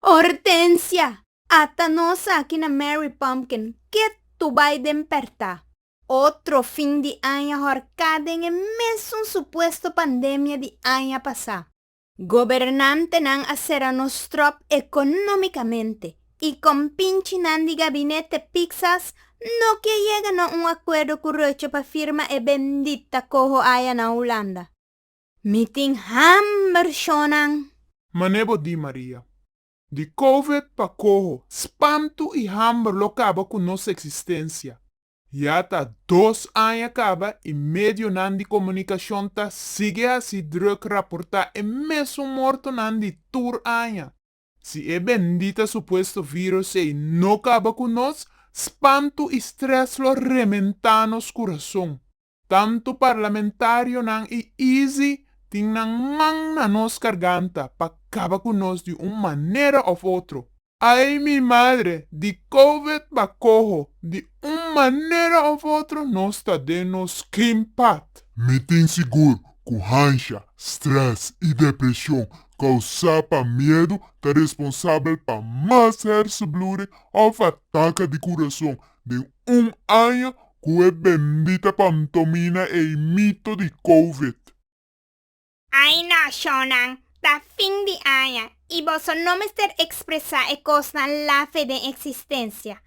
Hortensia, Ata nos aki na Mary Pumpkin, ke tu bai den perta? Otro fin di aña horká den e mesun supuesto pandemia di aña pasá. Gobernantenan a sera nos tròp ekonómikamente i kompinchinan di gabinete piksas no ke yega na un akuerdo ku Rutte pa firma e bendita koho aya na Hulanda. Mi tin hamber shonan. Mane bo di Maria. Di covid pa coho. Spantu y hamber lo caba cu nos existencia. Ya ta dos aña caba y medionan di comunicacion ta sigue haci druk raporta e mesun mortonan di tur aña. Si e bendita supuesto virus ey no caba cu nos, spantu y stress lo rementa nos curason. Tantu parlamentarionan i Easy tin nan man na nos karganta pa kaba ku nos di un manera òf otro. Ai mi madre, di covid bakoho, di un manera òf otro nos ta den nos klim pat. Mi tin sigur ku hansha, strès i depreshon kousá pa miedu ta responsabel pa mas hèrsenbluring òf ataka di kurason den un aña cu e bendita pantomina ey mito di covid. Ay nacionnan, ta fin di aña y boso no mester expresa e cosnan lafe den existencia.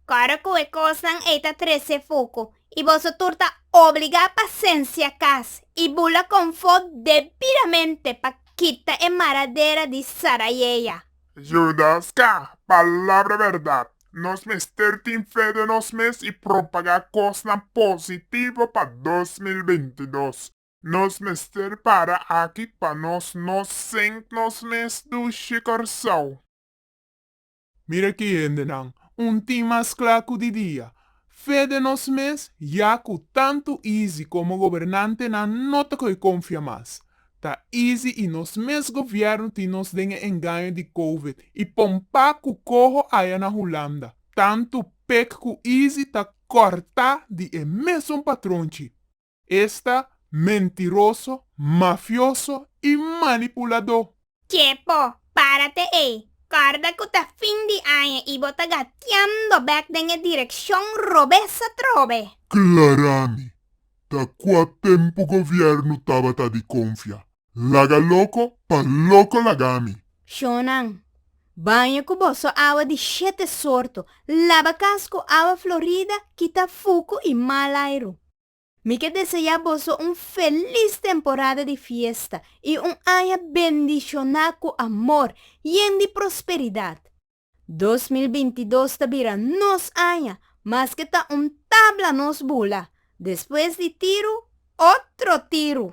Cora cu e cosnan ey ta trece fucu y boso tur ta obliga pa cencia cas y bula confo debidamente pa kita e maradera di Sarayeya. Judas ca palabra berdad. Nos mester tin fe den nos mes i propagá kosnan positivo pa dos mil binti i dos. Nos mester para aki pa nos no sent nos mes dushi Kòrsou. Mira ki hendenan, un tin mas kla ku di dia. Fe den nos mes ya ku tantu Easy komo gobernantenan no ta koi konfia mas. Ta easy y nos mes gobierno tin nos den e engaño di covid y pompa cu coho aya na Hulanda. Tanto pek cu easy ta corta di e mesun patron chi. Esta mentiroso, mafioso y manipulador. Ke bo para te ei? Kòrda ku ta fin di aña i bo ta gatiando bèk den e direkshon robes atrobe? Klarami, ta kua tempu gobièrnu tabata di konfia? Laga loko pa loko lagami! Shonnan, baña ku boso awa di shete sorto, laba kas ku awa florida, kita fuku i mal airu. Mi ke deseá boso un felis temporada di fiesta i un aña bendishoná ku amor, yen di prosperidat. Dos mil binti dos ta bira nos aña, maske ta un tabla nos bula, despues di tiru, otro tiru!